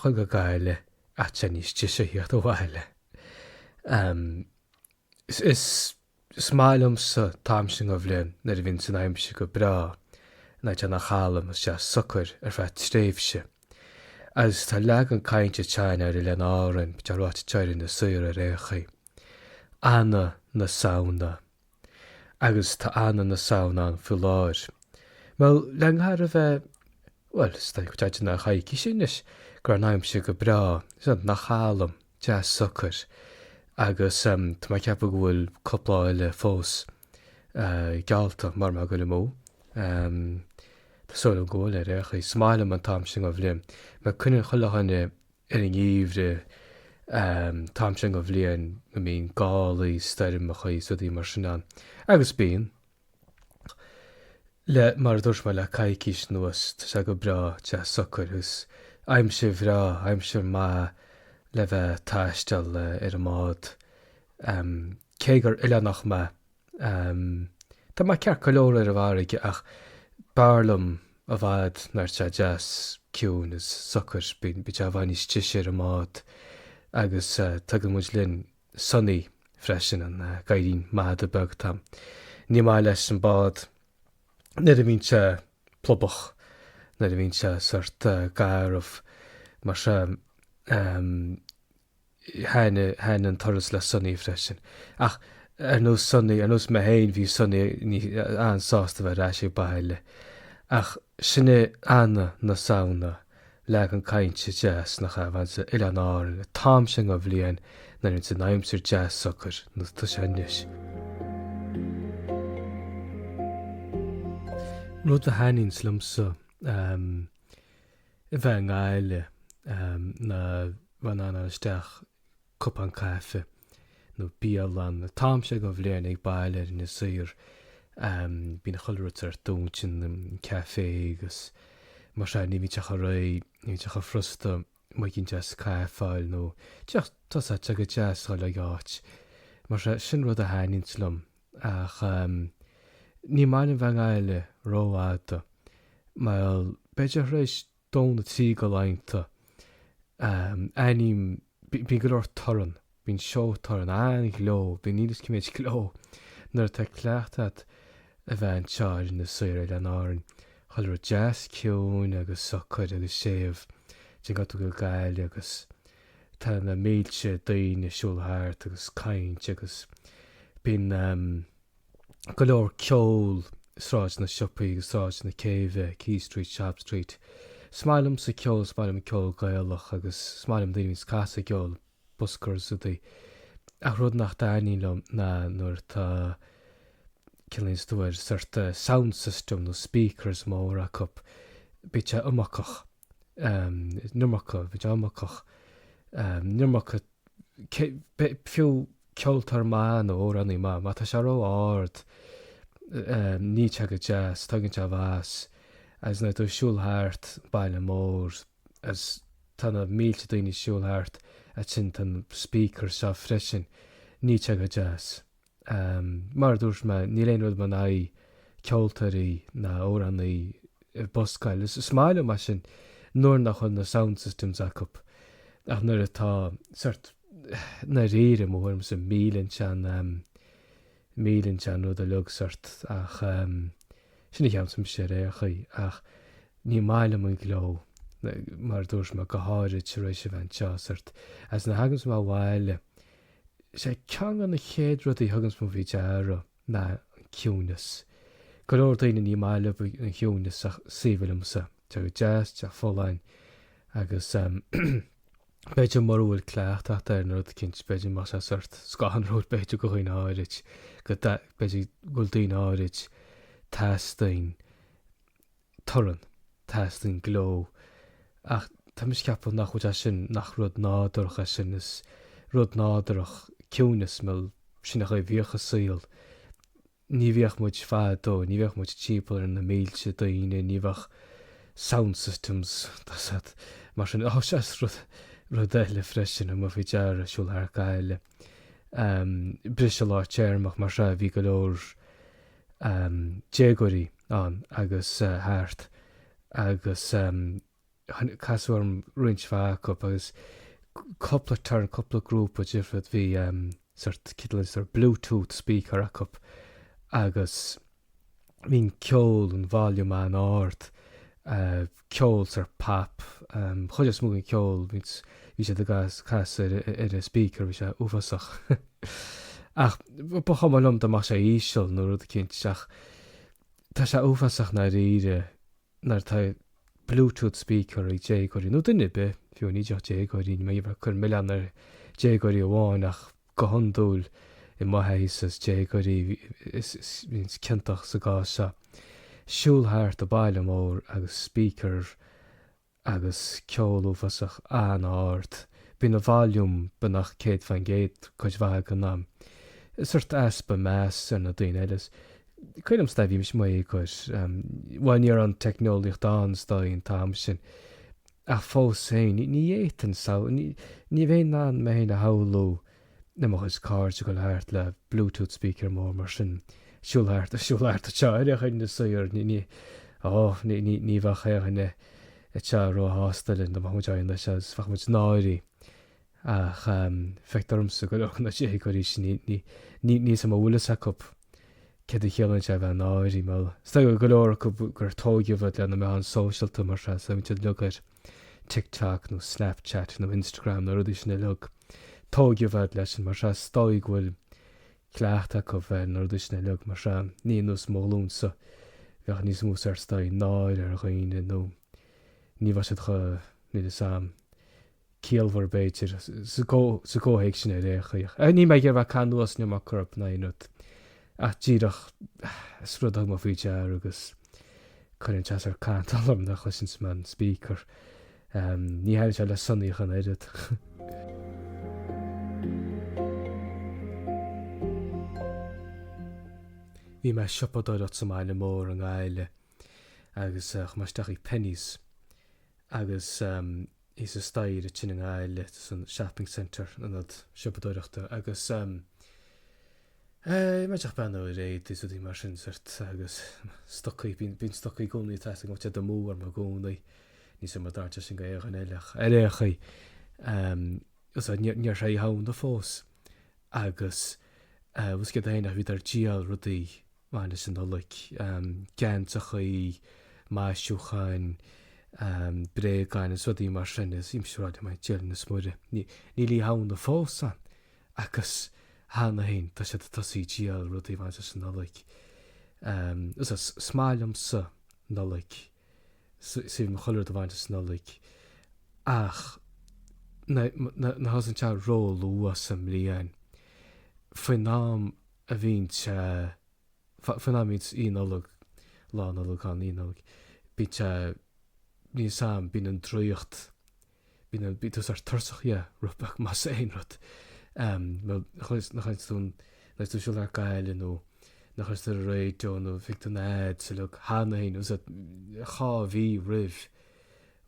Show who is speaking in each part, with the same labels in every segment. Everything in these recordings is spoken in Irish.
Speaker 1: ghoil go Gaillimh ach tá sé níos deise a theacht abhaile. Ahm, is, is, is maith liomsa an t-am sin den bhliain nuair a bhíonns an aimsir go breá, nuair atá sé ina chalm is deas socair ar feadh tréimhse. Agus tá leagan cainte againne air in Oileáin Árann, bíonn sé ráite anseo ar Inis Oírr ar aon chaoi. Ana na Samhna. Agus tá Ana na Samhna ann faoi láthair. Má leanfar a bheith, bhuel, is dóigh tá sé ina choicís anois, go raibh an aimsir go breá, is ina chalm, deas socair. Agus tá mé ag ceapadh go bhfuil cúpla lá eile fós geallta, mura mbeadh go bhfuil níos mó. Tá súil agam go bhfuil ar aon chaoi. Is maith liom an t-am sin den bhliain. Mar cuimhníonn chuile dhuine ar an ngeimhreadh, an t-am sin den bhliain go mbíonn gálaí, stoirmeacha is rudaí mar sin ann, agus bíonn. Le, mar a dúirt mé, le coicís anuas, tá sé go breá, tá sé socair agus aimsir bhreá, aimsir mhaith le bheith a' taisteal ar an mbád, cé gur oileánach mé. Tá mé ceart go leor ar an bhfarraige ach b'fhearr liom i bhfad nuair atá sé deas ciúin is socair. Bíonn sé i bhfad níos deise ar an mbád agus tugann muid linn Sonny freisin, an gadhairín mada beag atá agam. Ní maith leis an bád nuair a bhíonn sé plubach, nuair a bhíonn sé sórt garbh mar sin. Thaithin an turas le Sonny freisin. Ach ar nós Sonny, ar nós mé féin, bhí Sonny an-sásta a bheith ar ais ag baile. Ach sin é Ana na Samhna, leagan cainte deas, nach ea? A bheith anseo ar Oileáin Árann an t-am sin den bhliain nuair a bhíonns an aimsir deas socair, nós atá sé anois. Rud a thaitníonns liomsa. a bheith i nGaillimh ná a bheith in ann a ghoil isteach cupán caife nó bialann. An t-am sin den bhliain ag baile in Inis Oírr. Bíonn chuile rud sórt dúnta, an café agus mar sin. Ní bhíonn sé chomh réidh. Ní bhíonn sé chomh frusta muigín deas caife a fháil nó tae, so tá sé go deas a dhul ag áit mar sin. Sin rud a thaitníonns liom. Ach ní maith liom a bheith i nGaillimh ró-fhada, mar b'fhéidir tar éis dó nó trí de laethanta ann, ahm, bíonn go leor torann, bíonn seó torann, an-ghleo, bíonn níl a fhios cé méid gleo, nuair atá cleachtadh agat a bheith anseo ar Inis Oírr, Oileáin Árann, chuile rud deas ciúin agus socair agus séimh, téann tú go Gaillimh agus. Tá na mílte daoine ag siúl thart ag caint agus bíonn go leor ceol i Sráid na Siopaí agus Sráid na Céibhe, Quay Street, Shop Street. Is maith liomsa ceol, is maith liom ceol Gaelach agus is maith liom daoine a bhíonn ag casadh ceol, buskers úd. Ach rud nach dtaitníonn liom ná nuair atá, cén nglaonn tú air, sort of sound system nó speakers móra acu. Bíonn sé iomarcach. an iomarca, bhí sé iomarcach, an iomarca, fiú ceoltóir maith nó amhránaí maith, má tá sé ró-ard, níl sé go deas, tuigeann tú, you know, agus nuair atá tú ag siúl thart, baile mór, agus tá na mílte daoine ag siúl thart, ansin tá na speaker seo freisin, níl sé go deas. Mar a dúirt mé, níl aon rud agam in aghaidh ceoltóirí ná amhránaí ag buscáil. Is maith liom é sin nuair nach bhfuil na sound systems acu. Ach nuair atá sort i ndáiríre, mo thuairmse, milleann sé an milleann sé an rud uilig sort ach sin a cheapaimse ar aon chaoi. Ach ní maith liom an gleo, mar a dúirt mé, go háirid tar éis a bheith anseo sort agus nuair a thagaimse abhaile, Sé ceann de na chéad rudaí a thugaimse faoi deara ná an ciúnas. Go leor daoine ní maith leob an ciúnas ach is aoibhinn liomsa. Tá sé go deas, tá sé folláin agus b'fhéidir mura bhfuil cleachtadh agat ar an rud eicínt b'fhéidir go mbeadh sé sort scanrúil b'fhéidir do dhaoine áirid go b'fhéidir go bhfuil daoine áirid teastaíonn torann. Teastaíonn gleo. Ach tá mise ag ceapadh nach bhfuil sé sin, nach rud nádúrach é sin. Is rud nádúrach ciúnas, bhuel. Sin an chaoi a bhíodh an saol. Ní bhíodh muid fadó, ní bhíodh muid timpeall ar na mílte daoine, ní bheadh sound systems, tá a fhios agat, mar sin. Ó, sea, is rud, rud eile freisin, thug mé faoi deara, ag siúl thart Gaillimh, briseadh lár téarma, mar sea, bhí go leor, déagóirí ann agus thart agus casadh orm roinnt mhaith acu agus cúpla turn, cúpla grúpa difriúil. Bhí sort cineál sórt bluetooth speaker acu agus bhí an ceol, an volume an-ard. ceol sort pop chuid is mó den ceol bhí siad ag casadh ar an speaker bhí sé uafásach ach ba chuma liom dá mbeadh sé íseal nó rud eicínt ach tá sé uafásach ndáiríre nuair tá bluetooth speaker ag déagóirí nó duine ar bith fiú ní déagóirí níl mé ag cur milleán ar déagóirí amháin ach Go hiondúil, im thaithíse, is déagóirí a bhíonns ciontach sa gcás seo. Siúl thart an bhaile mór agus speaker agus ceol uafásach an-ard. Bíonn an volume beagnach céad faoin gcéad cuid mhaith den am. Sórt easpa meas ar na daoine eile. Cuirim i gcás, nuair a bhí mise i mo dhéagóir. Bhuel, ní raibh an teicneolaíocht ann is dóigh an t-am sin. Ach fós féin, ní fhéadfainn samhl, ní bheinn in ann mé féin a shamhlú le mo chuid cairde ag dul thart le Bluetooth speaker mór mar sin, siúl thart is siúl thart tigh daoine nó sórt, ní, ní, ó, ní, ní, ní bheadh aon duine a bheadh róshásta linn dá mbeadh muid ag éisteacht leis agus bheadh muid náirithe. Ach feictear domsa go leor de na déagóirí sin níl fhios a'm an bhfuil fhios acu céard a chiallaíonn sé a bheith náirithe. Is dóigh go leor acu gur tóigeadh iad le na meáin sóisialta mar sin, so bíonn siad uilig ar TikTok nó Snapchat nó Instagram nó rudaí sin uilig. Tóigeadh iad leis sin mar sin, is dóigh go bhfuil cleachtadh acu ar na rudaí sin uilig mar sin. Ní nós mo ghlúinsa bheadh níos mó sórt is dóigh, náire ar dhaoine nó ní bheadh siad chomh, níl fhios a'am, ciallmhar b'fhéidir, sa gcomhthéacs sin ar aon chaoi. Níl mé ag iarraidh bheith caitheamh anuas ná mar chúrsa ná aon rud ach díreach is rud a thug mé faoi deara agus cuireann sé sórt cantal orm nuair a chloiseanns mé an speaker. Ní thaitníonn sé le Sonaí ach an oiread. Bhí mé ag siopadóireacht sa mbaile mór i nGaillimh agus chuaigh mé isteach i Penneys agus thíos an staighre ansin i nGaillimh sa shopping centre, an ionad siopadóireachta agus ehm, mé ag breathnú ar éadaí is rudaí mar sin sórt agus stocaí, bíonn, bíonn stocaí i gcónaí ag teastáil go dtéann siad amú orm i gcónaí, níl fhios a'm an dtarlaíonn sé sin go éinne eile ach, ar aon chaoi, ehm, so níor, níor tharla Oíche Shamhna fós agus eh, bhuel is go cheana féin nach bhíodar ag díol rudaí. a bhaineanns leis an Nollaig, geansachaí, maisiúcháin, bréagáin is rudaí mar sin is bhí mise ag rá i m'aigne féin, a Dhia 's a Mhuire. Níl Oíche Shamhna fós ann agus cheana féin tá siad ag tosaí ag díol rudaí a bhaineanns leis an Nollaig. Is maith liomsa an Nollaig, is aoibhinn liom chuile rud a bhaineanns leis an Nollaig ach nuair a thosaíonn sé ró-luath sa mbliain, faoin am a bhíonns sé, faoin am bhíonns Oíche Nollag, Lá Nollag ann, Oíche Nollag, bíonn sé, níl fhios a'm, bíonn an draíocht, bíonn an, bíonn tú sórt tuirseach dhe, rud beag, más aon rud. Nuair a chloiseanns, a chloiseanns tú, a chloiseanns tú ag siúl thart Gaillimh nó nuair a chloiseanns tú ar an raidio nó feiceann tú na ads uilig, cheana féin, sórt, dhá mhí roimh,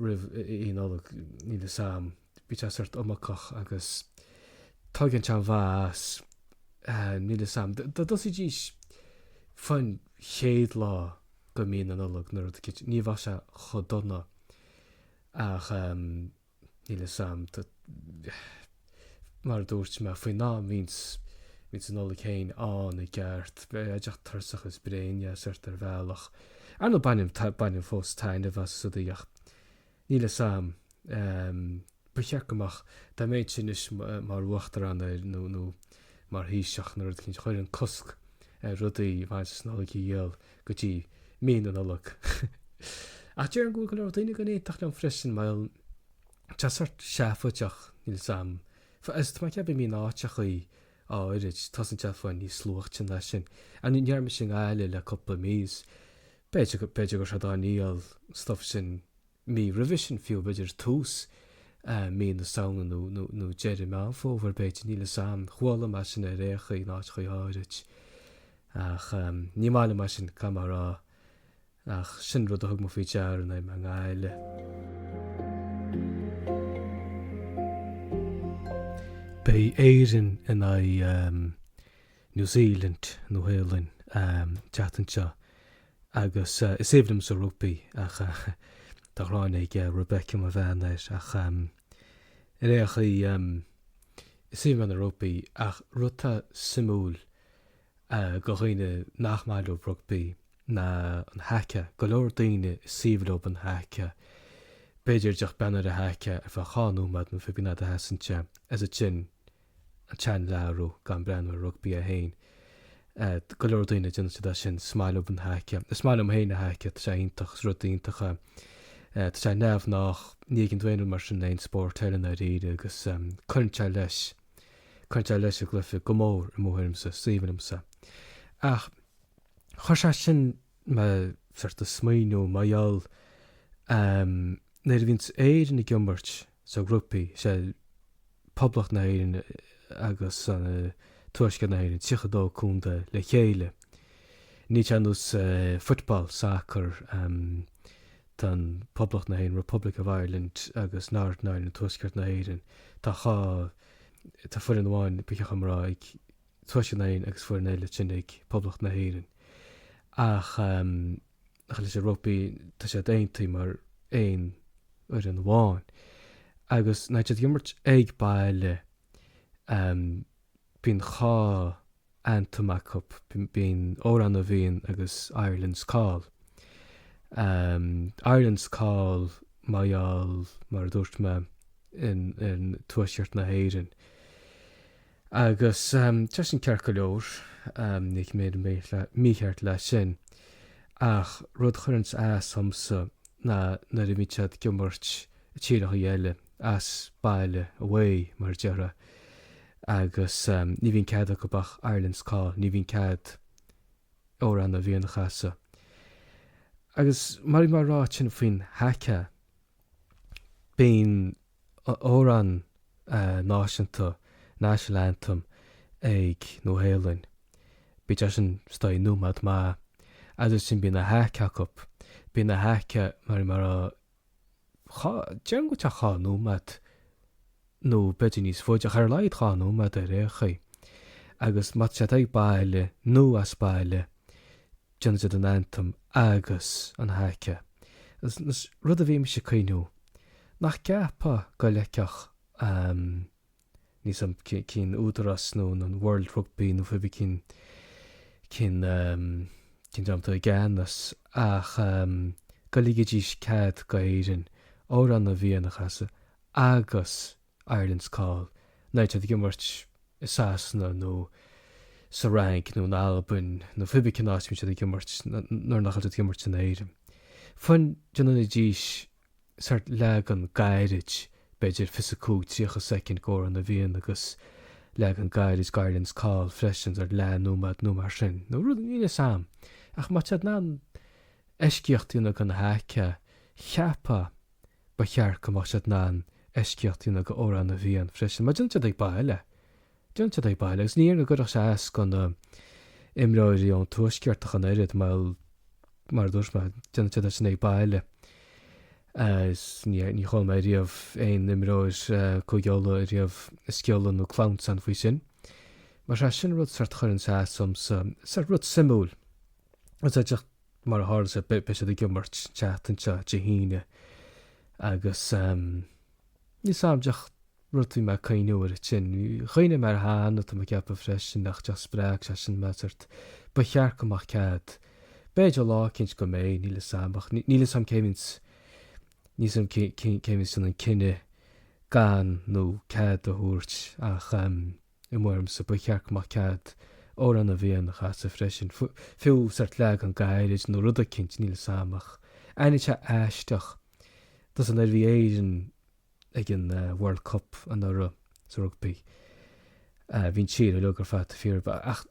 Speaker 1: roimh Oíche Nollag, níl fhios a'm. Bíonn sé sórt iomarcach agus tugann sé an mhaith as. Níl 'fhios a'm. Dá dtosaídís faoin chéad lá de mhí na Nollag nó rud eicínt. Ní bheadh sé chomh dona ach ehm níl 'fhios a'm. Mar a dúirt mé, faoin am a bhíonns, bhíonns an Nollaig féin ann i gceart. Bím díreach tuirseach is bréan dhe sórt ar bhealach. Ar ndóigh bainim, bainim fós taitneamh as rudaí ach. Níl fhios a'm. Ba cheart go mbeadh. Dá mbeinnse anois mar uachtarán nó mar thaoiseach nó rud eicínt. Chuirfinn cosc ar rudaí a bhaineann leis an Nollaig a dhíol go dtí mí na Nollag. Ach déarfainn go bhfuil go leor daoine go n-aontódh liom freisin mar tá sé sórt seafóideach, níl fhios a'm. Mar ceapaim in áiteachaí áirid, tosaíonn sé fiú níos luaichte ná sin. Ní raibh mise i nGaillimh le cúpla mí is B'fhéidir, b'fhéidir go raibh siad á ndíol an stuif sin mí roimhe sin fiú, b'fhéidir tús mí na Samhna nó, nó, nó deireadh Meán Fómhair, b'fhéidir, níl 'fhios a'm. Chuala mé é sin ar aon chaoi in áiteachaí áirid. Ach ní maith liom é sin, caithfidh mé a rá. Ach sin rud a thug mé faoi deara in am i nGaillimh. Beidh Éirinn in aghaidh. New Zealand, Nua Shéalainn, teacht anseo agus is aoibhinn liomsa rugbaí ach tá an ghráin ag Rebecca, mo bhean, air ach ar aon chaoi is aoibhinn liom an rugbaí ach rud atá suimiúil do dhaoine nach maith leo rugbaí ná an haca. Go leor daoine is aoibhinn leo an haca. B'fhéidir díreach breathnú ar an haca ar feadh dhá nóiméad nó cibé cén fhad a sheasann sé is ansin. an channel a athrú gan breathnú ar an rugbaí é féin. Go leor daoine, déanann siad é sin, is maith leo an haca. Is maith liom féin an haca, tá sé iontach, is rud iontach é. Tá sé neamhghnách, ní fheiceann tú aon rud mar sin in aon spórt eile i ndáiríre agus cuireann sé leis, cuireann sé leis an gcluiche go mór i mo thuairimse, is aoibhinn liomsa. Ach chuir sé sin mé sórt ag smaoineamh, mar gheall, nuair a bhíonns Éirinn ag imirt, sa rugbaí, is é Poblacht na hÉireann agus an Tuaisceart na hÉireann, 32 contae le chéile. Níl sé ar nós football, soccer, tá an Poblacht na hÉireann, Republic of Ireland, agus Northern Ireland, Tuaisceart na hÉireann, tá dhá, tá foireann amháin, ba cheart dhom a rá, ag Tuaisceart na hÉireann agus foireann eile ansin ag Poblacht na hÉireann. Ach. ach leis an rugbaí, tá siad aontaithe mar aon fhoireann amháin. Agus nuair atá siad ag imirt ag baile, bíonn dhá anthem acu, bíonn Amhrán na bhFiann agus Ireland's Call. Ireland's Call mar gheall, mar a dúirt mé, in tuaisceart na hÉireann. Agus tá sin ceart go leor, ní hé go mbeadh mícheart le sin, ach rud a chuireanns as dhomsa ná nuair a bhíonn siad ag imirt i tíreachaí eile, as baile, away, mar a déarfá, agus ní bhíonn cead acub ach Ireland's Call, ní bhíonn cead Amhrán na bhFiann a chasadh. Agus mar a bhí mé a' rá ansin faoin haka, bíonn amhrán náisiúnta, national anthem, ag Nua Shéalainn. Bíonn sé sin is dóigh nóiméad amháin agus ansin bíonn an haka acu. Bíonn an haka mar mar a dhá, déarfainn go díreach dhá nóiméad nó b'fhéidir níos faide ach ar a laghad dhá nóiméad ar aon chaoi. Agus má tá siad ag baile nó as baile, Déanann siad an anthem agus an haka, rud a bhí mise ag cuimhneamh, nach gceapfá go ligfeadh an níl 's a'm cén údarás nó an World Rugby nó pé bith cén cén dream atá i gceannas ach go ligfidís cead go hÉirinn, amhrán na bhFiann a chasadh agus Ireland's Call, nuair atá siad ag imirt i Sasana nó sa Fhrainc nó in Albain nó pé bith cén áit a mbíonn siad ag imirt nuair nach bhfuil siad ag imirt in Éirinn. Fiú amháin dá ndéanfaidís sort leagan gairid, b'fhéidir 25, 30 soicind go Amhrán na bhFiann agus leagan gairid go Ireland's Call freisin, sort leath nóiméad nó mar sin, nó rud, níl 'fhios a'm. Ach má tá siad in ann eisceacht a dhéanamh don haka, cheapfá. Ba cheart go mbeadh siad in ann eisceacht a dhéanamh go Amhrán na bhFiann freisin mar déanann siad ag baile. Déanann siad ag baile agus ní dhéarfainn go gcuirfeadh sé as go na imreoirí ón tuaisceart ach an oiread mar, mar a dúirt mé, déanann siad é sin ag baile agus ní, ní chuala mé riamh aon imreoir Cúige Uladh ariamh ag sciolladh nó clamhsán faoi sin. Mar sea, sin an rud, sórt a chuireann sé as domsa. Sórt rud suimiúil. Is díreach mar a tharla sé, beidh siad ag imirt an tseachtain seo, Dé hAoine, agus níl 's agam díreach rud a bhí mé ag cuimhneamh air ansin. Chuimhnigh mé air cheana, tá mé ag ceapadh freisin, ach díreach spreag sé sin mé, sórt, ba cheart go mbeadh cead. B'fhéidir lá eicínt go mbeidh, níl 'fhios agam, ach níl 'fhios agam cé bhíonns, níl 'fhios agam cé bhíonns ag déanamh an cinneadh gan nó cead a thabhairt ach. I mo thuairimse ba cheart go mbeadh cead Amhrán na bhFiann a chasadh freisin. Fiú sórt leagan gairid nó rud eicínt, níl 'fhios a'm, ach bhí sé aisteach, tá 'fhios a'm nuair a bhí Éirinn ag an World Cup anuraidh sa rugbaí. Bhí an tír uilig ar fad fíor ach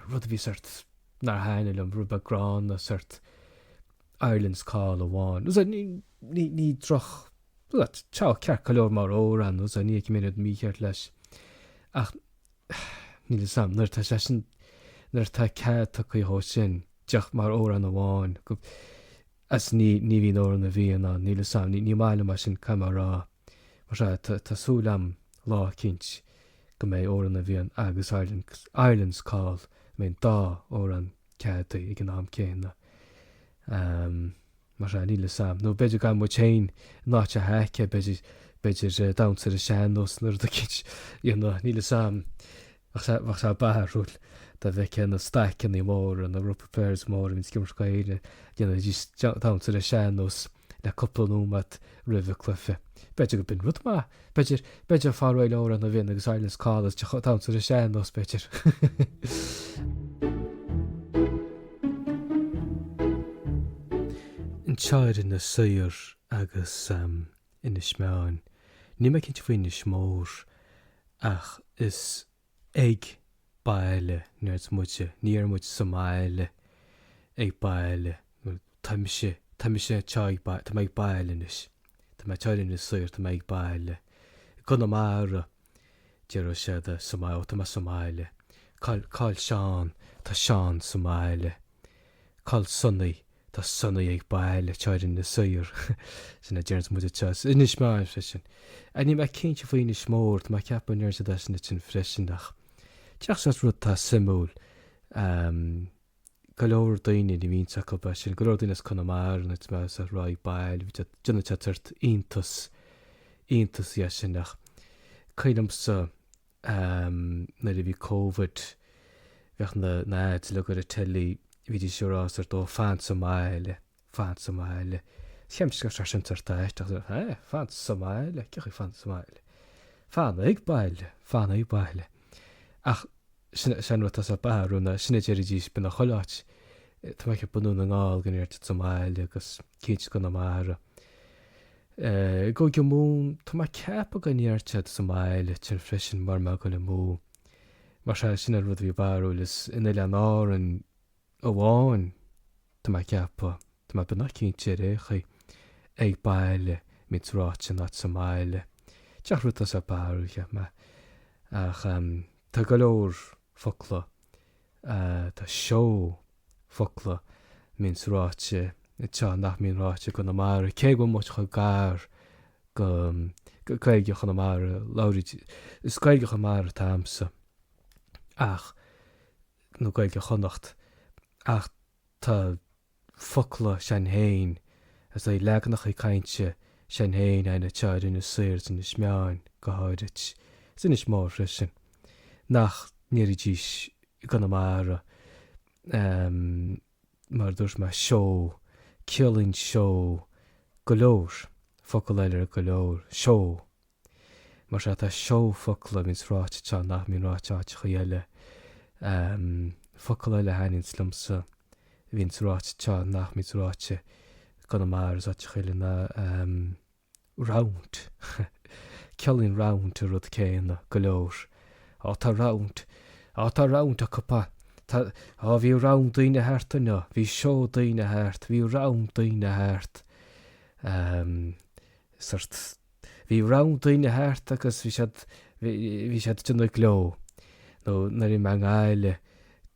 Speaker 1: rud a bhí sórt, nár thaitnigh liom, rud beag gránna, sórt Ireland's Call amháin. Ní droch. Bhuel, tá ceart go leor mar amhrán, agus ní fheicim aon rud mícheart leis. Ach níl 'fhios a'm, nuair atá sé sin, nuair atá cead tugtha dhó sin, isteach mar amhrán amháin, go, is ní, ní bhíonn Amhrán na bhFiann ann, níl 'fhios a'm, ní, ní maith liom é sin, caithfidh mé a rá. Mar sin, tá, tá súil a'm lá eicínt go mbeidh Amhrán na bhFiann agus Ireland, Ireland's Call, go mbeidh an dá amhrán ceadaithe ag an am céanna. Ahm. Mar sin, níl 'fhios a'm, nó b'fhéidir againn muid féin in áit an haka, b'fhéidir, b'fhéidir damhsa ar an sean nós nó rud eicínt, you know, níl 'fhios a'm. Bheadh sé, bheadh sé barrúil dá bhfeicfeá na staiceannaí móra, na rugby players móra a bhíonns ag imirt go ndéanfaidís damhsa ar an sean nós le cúpla nóiméad roimh an cluiche. B'fhéidir gur b'shin rud maith. B'fhéidir, b'fhéidir fáil réidh le Amhrán na bhFiann agus Ireland's Call is díreach damhsa ar an sean nós, b'fhéidir. Anseo ar Inis Oírr agus Inis Meáin. Níl mé cinnte faoi Inis Mór ach is ag baile a deir muide, ní deir muid sa mbaile, ag baile, tá mise, tá mise anseo ag baile, tá mé ag baile anois, tá mé anseo ar Inis Oírr, tá mé ag baile, i gConamara, déarfadh siad sa mbaile, ó tá mé sa mbaile, cá'il, cá'il Seán, tá Seán sa mbaile, cá'il Sonaí, Tá Sonaí ag baile, anseo ar Inis Oírr. Sin a deireanns muid anseo. Is Inis Meáin freisin. Níl mé cinnte faoi Inis Mór, tá mé ag ceapadh go ndeireann siad é sin ansin freisin ach díreach sé an rud atá suimiúil, go leor daoine, ní bhíonn 'fhios acu é sin, go leor daoine as Conamara nuair a bhímse ag rá ag baile, bíonn siad, déanann siad sórt iontas, iontas dhe sin ach cuimhnímse, Nuair a bhí Covid bheadh na n-aidhleog ar an teilí, bhídís ar fhás ar dóigh fans sa mbaile, fans sa mbaile. Cheann sceach ar sin tar t'áit agus ar eh, fans sa mbaile, cé chuige fans sa mbaile? Fanaidh ag baile, fanaidh ag baile. Ach sin sin rud tusa ba rún ná sin a déarfaidís b'in an chuile áit. Tá mé ag bunú na nGall go ndéarfad sa mbaile agus cén scoth na mara. I gCúige Mumhan, tá mé ag ceapadh go ndeir siad sa mbaile ansin freisin mara bhfuil mé ag goil amú. Mar sea, sin an rud a bhí barrúil, is in Oileáin Árann amháin, tá mé ag ceapadh, tá mé beagnach cinnte ar aon chaoi, ag baile, a bhíonns ráite in áit sa mbaile. Cén rud sách barrúil, cheap mé. Ach tá go leor focla, tá seó. focla a bhíonns ráite anseo nach mbíonn ráite i gConamara, cé go bhfuil muid chomh gar go Gaeilge Chonamara, labhraíd, is Gaeilge Chonamara atá a'msa ach, nó Gaeilge Chonnacht, ach tá focla s'againn féin, is eh leaganachaí cainte s'againn féin a'inn anseo ar Inis Oírr is Inis Meáin go háirid, is Inis Mór freisin, nach ndéarfaidís i gConamara, mar a dúirt mé, seó, ciallaíonn seó go leor, focal eile ar go leor, seó. Mar sea, tá seó focla a bhíonns ráite anseo nach mbíonn ráite áiteachaí eile. Focal eile a thaitníonns liomsa a bhíonns ráite anseo nach mbíonns ráite i gConamara is áiteachaí eile ná. Round. Ciallaíonn round an rud céanna, go leor. Á, tá round. Á, tá round acu. Tá, tá, á, bhí round daoine thart inniu. Bhí seó daoine thart. Bhí round daoine thart. Ehm, sort, bhí round daoine thart agus bhí siad, bhí, bhí siad ag déanamh gleo. Nó, nuair a bhí mé i nGaillimh,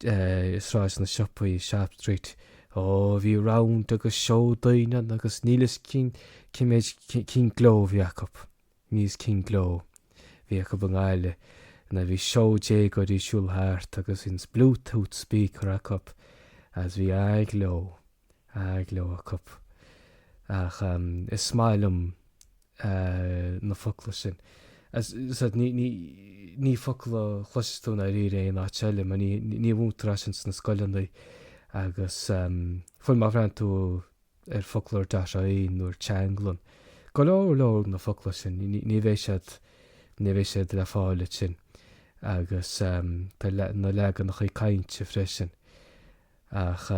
Speaker 1: Sráid na Siopaí, Shop Street. Ó, bhí round agus seó daoine ann agus níl fhios cé méid, cén gleo a bhí acu. Níl fhios cén gleo a bhí acu i nGaillimh. Nuair a bhí seó déagóirí ag siúl thart agus bíonns Bluetooth speaker acu agus bhí an-ghleo. An-ghleo acu. Ach is maith liom na focla sin. Ní focla a chloisfidh tú i ndáiríre in aon áit eile mar ní mhúintear iad sin sna scoileanna agus fiú má bhreathnaíonn tú ar Foclóir.ie nó ar Teanglann go leor leor na focla sin ní bheidh siad ní bheidh siad le fáil ansin agus tá na leaganachaí cainte freisin. Ach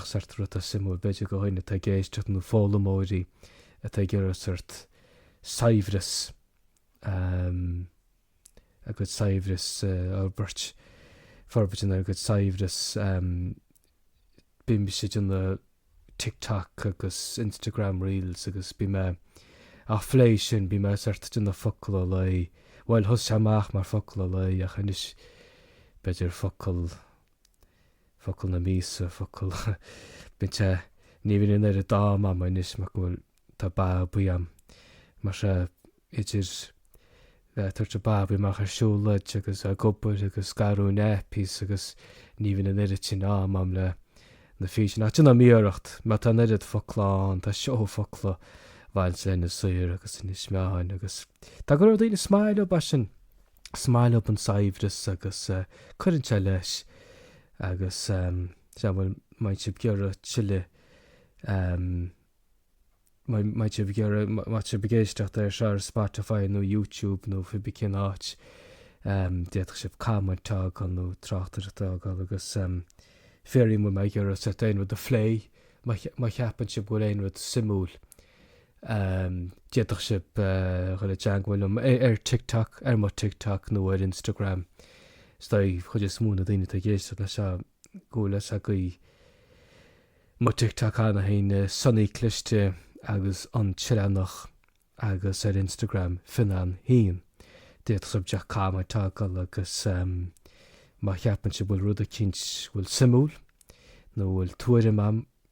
Speaker 1: sort rud atá suimiúil, b'fhéidir do dhaoine atá ag éisteacht nó foghlaimeoirí atá ag iarraidh sort saibhreas ehm a gcuid saibhreas a fhorbairt, forbairt ina gcuid saibhreas ehm bím mise ag déanamh TikTok agus Instagram reels agus bím mé ag plé leis sin, bím mé sort ag déanamh focal an lae, bhuel thosaigh sé amach mar focal an lae ach anois b'fhéidir focal Focal na míosa, focal, b'in sé. Ní bhíonn an oiread d'am agam anois mar go bhfuil, tá babaí agam. Mar sea, idir bheith ag tabhairt an babaí amach ar siúlóid agus ag obair agus ag athrú nappies agus, ní bhíonn an oiread sin am agam le na físeáin. Ach déanaim iarracht, mar tá an oiread focla ann, tá seó focla bainte lena saothar agus ins na meáin agus tá go leor daoine is maith leob é sin. Is maith leob an saibhreas agus cuireann sé leis agus sea bhuel má bhíonn sibh ag iarraidh tuilleadh má bhíonn sibh ag iarraidh má tá sibh ag éisteacht air seo ar Spotify nó YouTube nó cibé cén áit d'fhéadfadh sibh comment a fhágáil nó tráchtaireacht a fhágáil agus fiafraí an bhfuil mé ag iarraidh sibh aon rud a phlé má cheapann sibh go bhfuil aon rud suimiúil d'fhéadfadh sibh dhul i dteangmháil liom ar TikTok, ar mo TikTok nó ar Instagram. Is dóigh chuid is mó na daoine atá ag éisteacht leis seo go bhfuil fhios agaibh mo TikTok cheana féin, Sonaí Cliste agus An tÉireannach agus ar Instagram Fionnán féin. D'fhéadfadh sibh díreach comment a fhágáil agus má cheapann sibh go bhfuil rud eicínt bhfuil suimiúil nó bhfuil tuairim a'm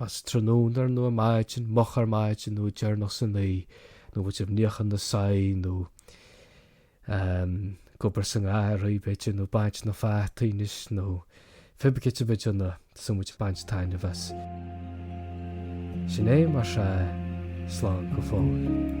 Speaker 1: más tráthnóna nó ar maidin, moch ar maidin nó deireanach san oích', nó an bhfuil sibh ag níochán na soithí nó ag obair sa ngarraí, b'fhéidir, nó baint na fataí anois nó cibé céard a bheidh ann a san bhfuil ag baint taitneamh as. Sin é mar sea, slán go fóill.